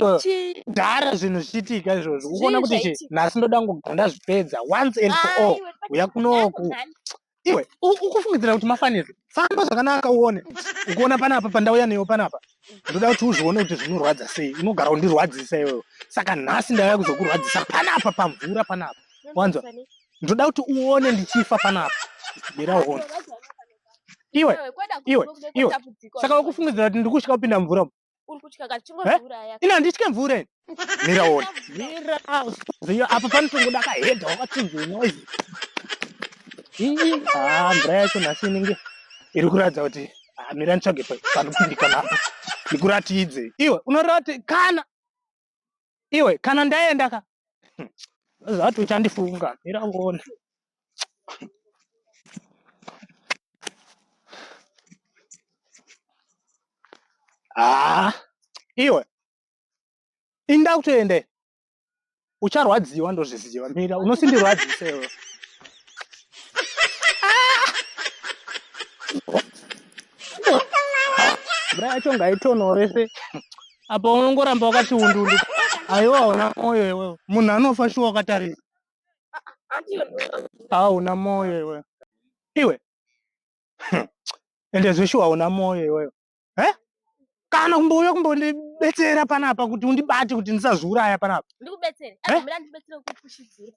kudhara zvinhu zvichiitika izvozvo ukuona kuti chi nhasi ndoda kugara ndazvipedza once and for all uya kunoku iwe ukufungidzira kuti mafanirwa famba zvakanaka uone ukuona panapa pandauya neyo panapa ndoda kuti uzvione kuti zvinorwadza sei unogara undirwadzisa iyoyo saka nhasi ndauya kuzokurwadzisa panapa pamvura panapa wanzwa ndoda kuti uone ndichifa panapa bira uone iwe iwe iwe saka ukufungidzira kuti ndiri kusvika kupinda mvura Uri kutya kati chingozviuraya. Eh? Ini handitye mvura ini. Mira wona. Mira. Ziyo apa panotongoda kahedha wakachinja noise. Ii, ah, mvura yacho nhasi inenge iri kuratidza kuti ah, mira nditsvage panopindikana apa. Ndikuratidzei. Iwe unorati kana iwe kana ndaenda ka zvati uchandifunga mira uone haa iwe inda kutoende ucharwadziwa ndozviziva mira unosindirwadzisewe mvura yacho ngaitonore se apa unongoramba wakati undundu aiwa hauna moyo iwewe munhu anofa shuwa wakatarisa hauna moyo iwewe iwe ende zveshuwa hauna moyo iwewe eh? kana kumbouya kumbondibetsera panapa kuti undibate kuti ndisazviuraya panapa ndikubetsere Eh? azvimira ndibetsere kukushidzira